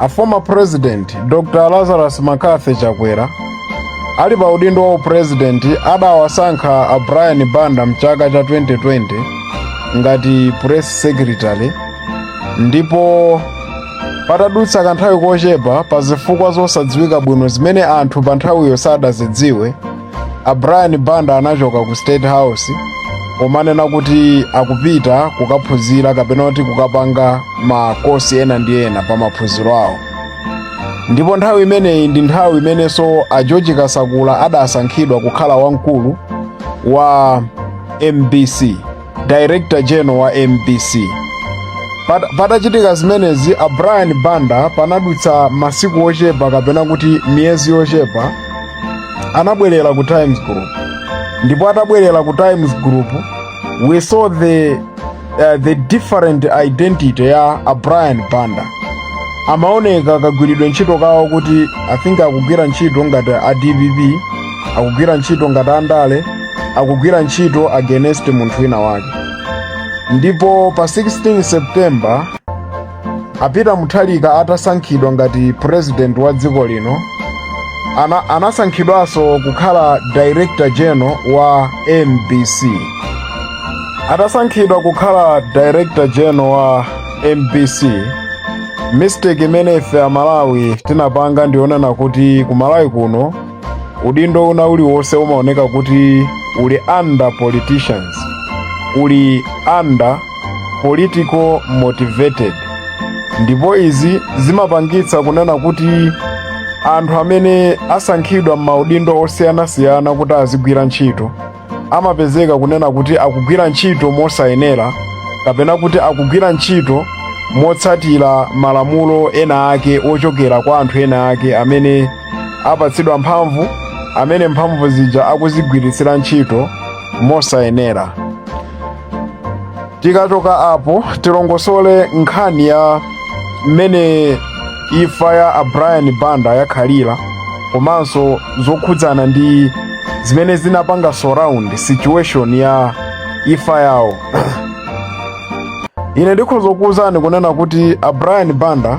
a former president dr lazarus mccarthy chakwera ali pa udindo wa upresident adawasankha a brian banda mchaka cha 2020 ngati press secretary ndipo patadutsa kanthawi kochepa pa zifukwa zosadziwika bwino zimene anthu pa nthawiyo sadazidziwe a brian banda anachoka ku state house omanena kuti akupita kukaphunzira kapena kuti kukapanga makosi ena ndi ena pa maphunziro awo ndipo nthawi imeneyi ndi nthawi imenenso a george kasakula adasankhidwa kukhala wamkulu wa mbc director general wa mbc Pat- patachitika zimenezi a brian banda panadutsa masiku ochepa kapena kuti miyezi yochepa anabwerera ku times group ndipo atabwerera ku times group we saw the, uh, the different identity ya a brian banda amaoneka kagwiridwe ntchito kawo kuti i think akugwira ntchito ngati a dpp akugwira ntchito ngati andale akugwira ntchito against munthu wina wake ndipo pa 16 september a peter mutharika atasankhidwa ngati president wa dziko lino ana, anasankhidwanso kukhala director general wa mbc atasankhidwa kukhala director general wa mbc mistake imene ife amalawi tinapanga ndiyonena kuti kumalawi kuno udindo una uliwonse umaoneka kuti uli under politicians uli under political motivated ndipo izi zimapangitsa kunena kuti anthu amene asankhidwa m'maudindo osiyanasiyana kuti azigwira ntchito amapezeka kunena kuti akugwira ntchito mosayenera kapena kuti akugwira ntchito motsatira malamulo ena ake ochokera kwa anthu ena ake amene apatsidwa mphamvu amene mphamvu zija akuzigwiritsira ntchito mosayenera tikachoka apo tilongosole nkhani ya mmene imfa ya a brian banda yakhalira komanso zokhudzana ndi zimene zinapanga surround situation ya imfa yawo ine ndikhoza kukuwuzani kunena kuti a brian banda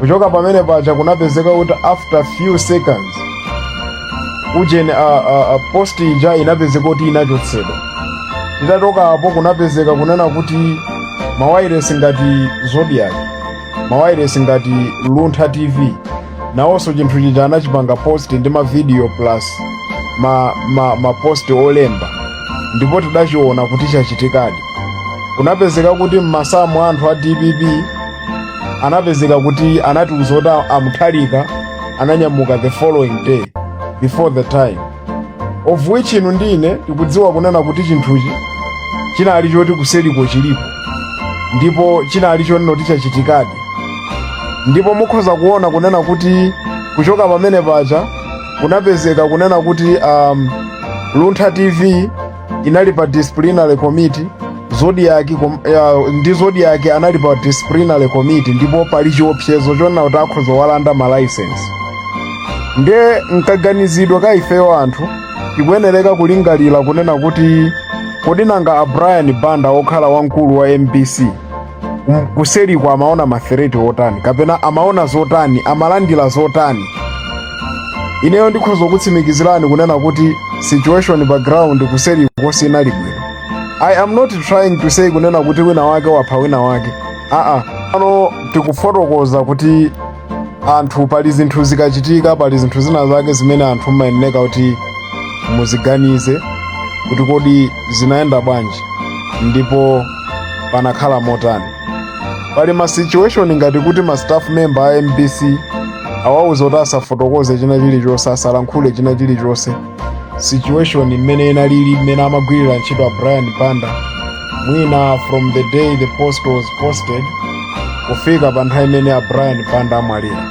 kuchoka pamene paja kunapezeka kuti after few seconds ujeni a, a, a post ija inapezeka kuti inachotsedwa titachoka apo kunapezeka kunena kuti mawairesi ngati zodiak mawairesi ngati luntha tv nawonso chinthu chija anachipanga post ndi mavidiyo plus ma, ma, ma post olemba ndipo tidachiona kuti chachitikadi kunapezeka kuti mmasamu anthu a dpp anapezeka kuti anatiuza kuti a mutharika ananyamuka the following day before the time of which inu ndine tikudziwa kunena kuti chinthuchi chinali choti kuseriko chilipo ndipo chinali chonena kuti chachitikadi ndipo mukhoza kuona kunena kuti kuchoka pamene paja kunapezeka kunena kuti um, luntha tv inali pa disciplinary committee zodiak kom, ya, ndi zodiak anali pa disciplinary committee ndipo pali chiopsezo chonena kuti akhoza kuwalanda ma license nde mkaganizidwe ka ifeyo anthu tikuyenereka kulingalira kunena kuti kodi nanga a brian banda okhala wamkulu wa mbc M- kuseriko amaona mafereti otani kapena amaona zotani amalandira zotani ineyo ndikhoza kukutsimikizirani kunena kuti situation pa ground kuseriko sinali bwino i am not trying to say kunena kuti wina wake wapha wina wake aa pano tikufotokoza kuti anthu pali zinthu zikachitika pali zinthu zina zake zimene anthu mumayeneka kuti muziganize kuti kodi zinayenda bwanji ndipo panakhala motani pali ma situation ngati kuti ma staff member a mbc awauza kuti asafotokoze china chilichonse asalankhule china chilichonse situation mmene inalili mmene amagwirira ntchito a brian banda mwina from the day the post was posted kufika pa nthawi imene a brian banda amwalira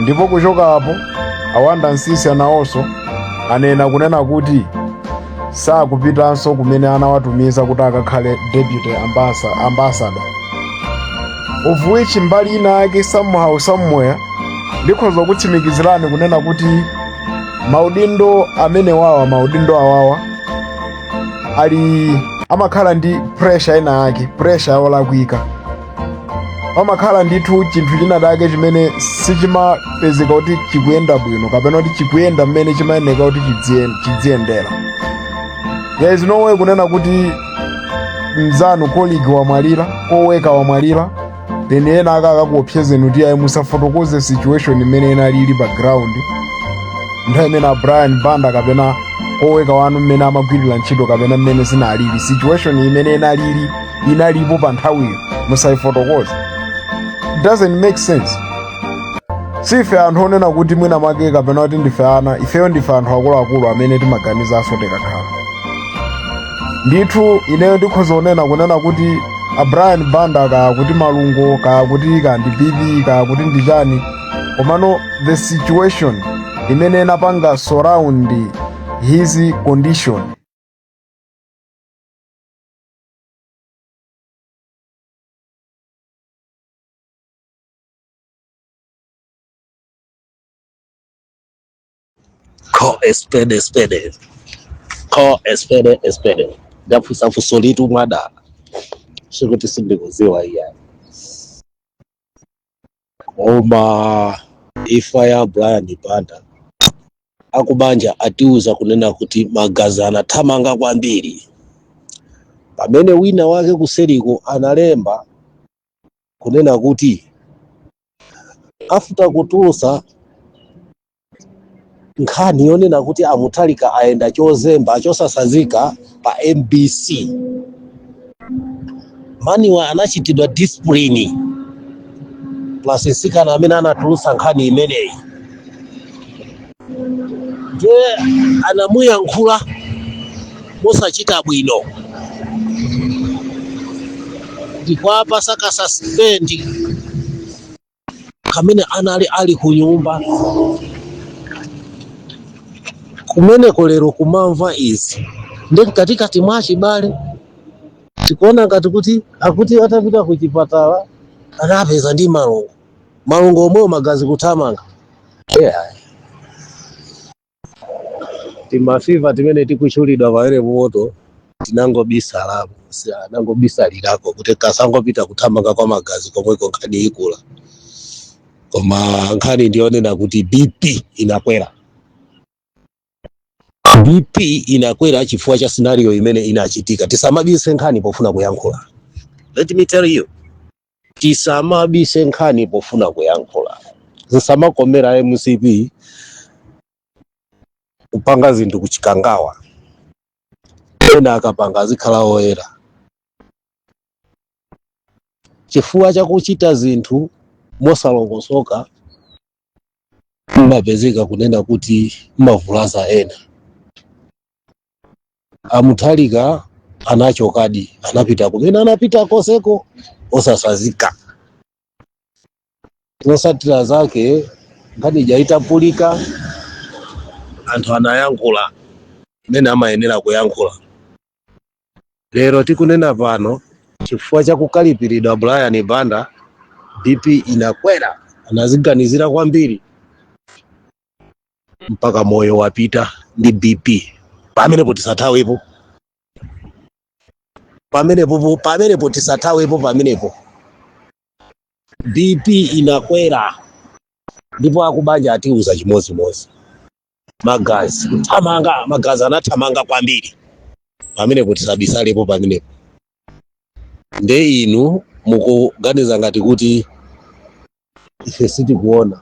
ndipo kuchoka apo awanda nsisi nawonso anena kunena kuti sakupitanso kumene anawatumiza kuti akakhale deputy ambassa- ambassador of which mbali ina yake somehow somewhere ndikhoza kukutsimikizirani kunena kuti maudindo amene awawa maudindo awawa ali amakhala ndi pressure ina yake pressure yolakwika pamakhala ndithu chinthu china chake chimene sichimapezeka kuti chikuyenda bwino kapena kuti chikuyenda mmene chimayeneka kuti chidzien- chidziyendera there is no way kunena kuti mzanu colleague wamwalira coworker wamwalira then ena aka akakuopsezeni kuti ayi musafotokoze situation mmene inalili pa ground nthawi imene a brian banda kapena coworker wanu mmene amagwirira ntchito kapena mmene zinalili situation mmene inalili inalipo pa nthawiyo musayifotokoze it doesn't make sense si ife anthu onena kuti mwina mwake kapena kuti ndife ana ifeyo ndife anthu akuluakulu amene timaganizanso tikakhala ndithu ineyo ndikhoza kunena kunena kuti a brian banda kaya kuti malungo kaya kuti kaya ndi bp kaya kuti ndi chani komano the situation imene inapanga surround his condition Call a spade a spade. Call a spade a spade. Ndafunsa funsolitu mwadala. Sikuti sindikudziwa iya. koma imfa ya brian banda akubanja atiuza kunena kuti magazi anathamanga kwambiri pamene wina wake kuseriko analemba kunena kuti after kutulutsa nkhani yonena kuti a Mutharika ayenda chozemba chosatsanzika pa mbc maniwa anachitidwa discipline plus mtsikana amene anatulutsa nkhani imeneyi ndiye anamuyankhula mosachita bwino ndikuwapatsa kasaspendi kamene anali ali ku nyumba kumeneko lero kumamva izi ndi mkatikati mwa achibale tikuona ngati kuti akuti atapita ku chipatala anapezeka ndi malungo malungo omwewo, magazi kuthamanga yeah. timafiva timene tikutchulidwa pa Mwere Moto tinangobisalako si- anangobisalirako kuti kasangopita kuthamanga kwa magazi komweko nkhani ikula koma nkhani ndiyonena kuti bp inakwera bp inakwera chifukwa cha scenario imene inachitika tisamabise nkhani pofuna kuyankhula let me tell you tisamabise nkhani pofuna kuyankhula zisamakomera a mcp kupanga zinthu ku Chikangawa ena akapanga azikhala oyera chifukwa chakuchita zinthu mosalongosoka mmapezeka kunena kuti mmavulaza ena a Mutharika anachokadi anapita kumene anapita koseko osatsanzika zotsatira zake nkhani ija itaphulika anthu anayankhula mmene amayenera kuyankhula lero tikunena pano chifukwa cha kukalipiridwa brian banda bp inakwera anadziganizira kwambiri mpaka moyo wapita ndi bp pamenepo tisathawepo pamenepo pamenepo tisathawepo pamenepo bp inakwera ndipo akubanja atiuza chimodzimodzi magazi kuthamanga magazi anathamanga kwambiri pamenepo tisabisalepo pamenepo nde inu mukuganiza ngati kuti ife sitikuona